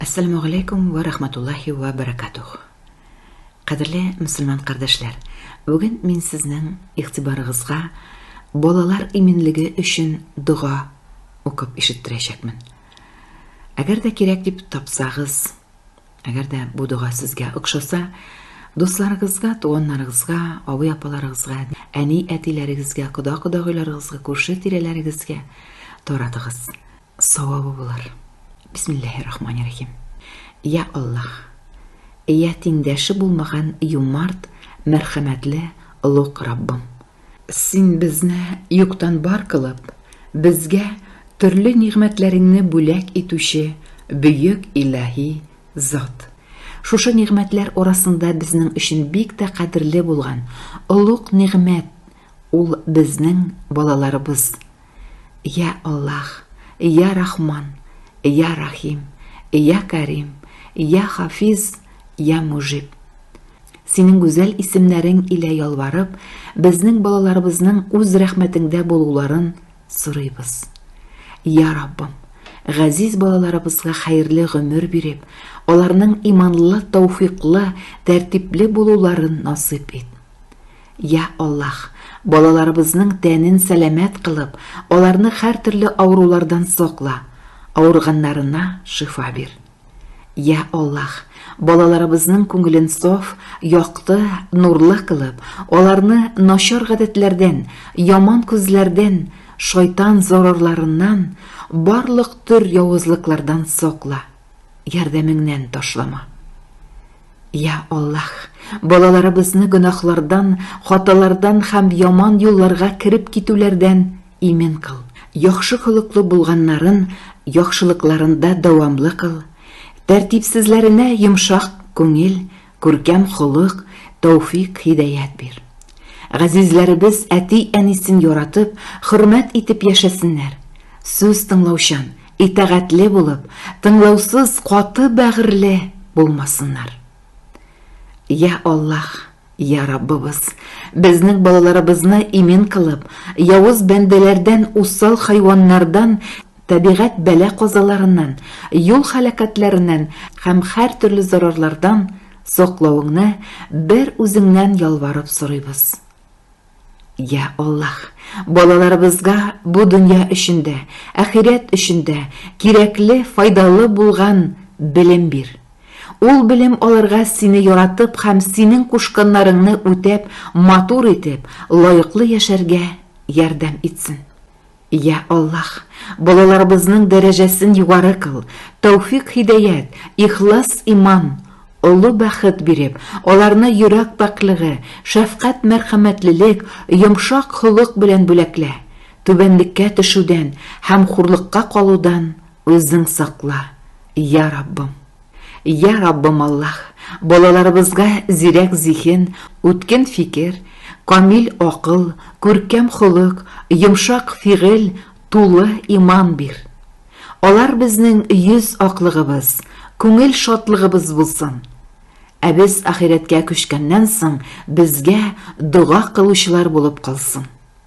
Әссәламү галәйкүм вә рахматуллаһи вә бәрәкатүһ! Кадерле мөселман кардәшләр, бүген мин сезнең игътибарыгызга балалар иминлеге өчен дога укып ишеттерәчәкмен. Әгәр дә кирәк дип тапсагыз, әгәр дә бу дога сезгә охшаса, дусларыгызга, туганнарыгызга, абый-апаларыгызга, әни-әтиләрегезгә, кода-кодагыйларыгызга, күрше-тирәләрегезгә таратыгыз. Савабы булыр. Бисмиллаһи рахмани рахим. Я Аллаһ. Я тиңдәше булмаган юмарт, мәрхәмәтле, олуг Раббым. Син безне юктан бар кылып, безгә төрле нигъмәтләреңне бүләк итүче бөек илаһи зат. Шушы нигъмәтләр арасында безнең өчен бик тә кадерле булган олуг нигъмәт Ул безнең балаларыбыз. Йә Аллаһ, йә Рахман, йә Рахим, йә Кәрим, йә Хафиз, йә Мужиб. Синең гүзәл исемнәрең илә ялварып, безнең балаларыбызның үз рәхмәтеңдә булуларын сорыйбыз. Йә Раббым, газиз балаларыбызга хәерле гомер биреп, аларның иманлы, тәүфыйклы, тәртипле булуларын насыйп ит. Йа Аллаһ, балаларыбызның тәнен сәламәт кылып, аларны һәртөрле авырулардан сакла, авырганнарына шифа бир. Йа Аллаһ, балаларыбызның күңелен саф, якты, нурлы кылып, аларны начар гадәтләрдән, яман күзләрдән, шайтан зарарларыннан, барлык төр явызлыклардан сакла. ярдәмеңнән ташлама. Я Аллаһ, балаларыбызны гөнаһлардан, хаталардан һәм яман юлларга кереп китүләрдән имин кыл. Яхшы холыклы булганнарын яхшылыкларында дәвамлы кыл. Тәртипсезләренә йомшак күңел, Күркәм холык, тәүфик, һидәят бир. Газизләребез әти-әнисен яратып, хөрмәт итеп яшәсеннәр. Сүз тыңлаучан, итагатьле булып, тыңлаусыз, каты бәгырьле булмасыннар. Я Аллаһ, я Раббыбыз, безнең балаларыбызны имин кылып, явыз бәндәләрдән, усал хайваннардан, Табигать бәла-казаларыннан, юл халәкәтләреннән һәм һәртөрле зарарлардан саклауыңны бер үзеңнән ялварып сорыйбыз. Йә Аллаһ, балаларыбызга бу дөнья өчен дә, ахирәт өчен дә кирәкле, файдалы булган белем бир. Ул белем аларга сине яратып һәм синең кушканнарыңны үтәп, матур итеп, лаеклы яшәргә ярдәм итсен. Йә Аллаһ, балаларыбызның дәрәҗәсен югары кыл, тәүфик-һидәят, ихлас иман, олы бәхет биреп, аларны йөрәк пакьлеге, шәфкать-мәрхәмәтлелек, йомшак холык белән бүләклә. Түбәнлеккә төшүдән һәм хурлыкка калудан Үзең сакла, йә Раббым! Я Раббым Аллаһ, балаларыбызга зирәк зиһен, үткен фикер, камил акыл, күркәм холык, йомшак фигыль, тулы иман бир. Алар безнең йөз аклыгыбыз, күңел шатлыгыбыз булсын. Ә без ахирәткә күчкәннән соң, безгә дога кылучылар булып калсын.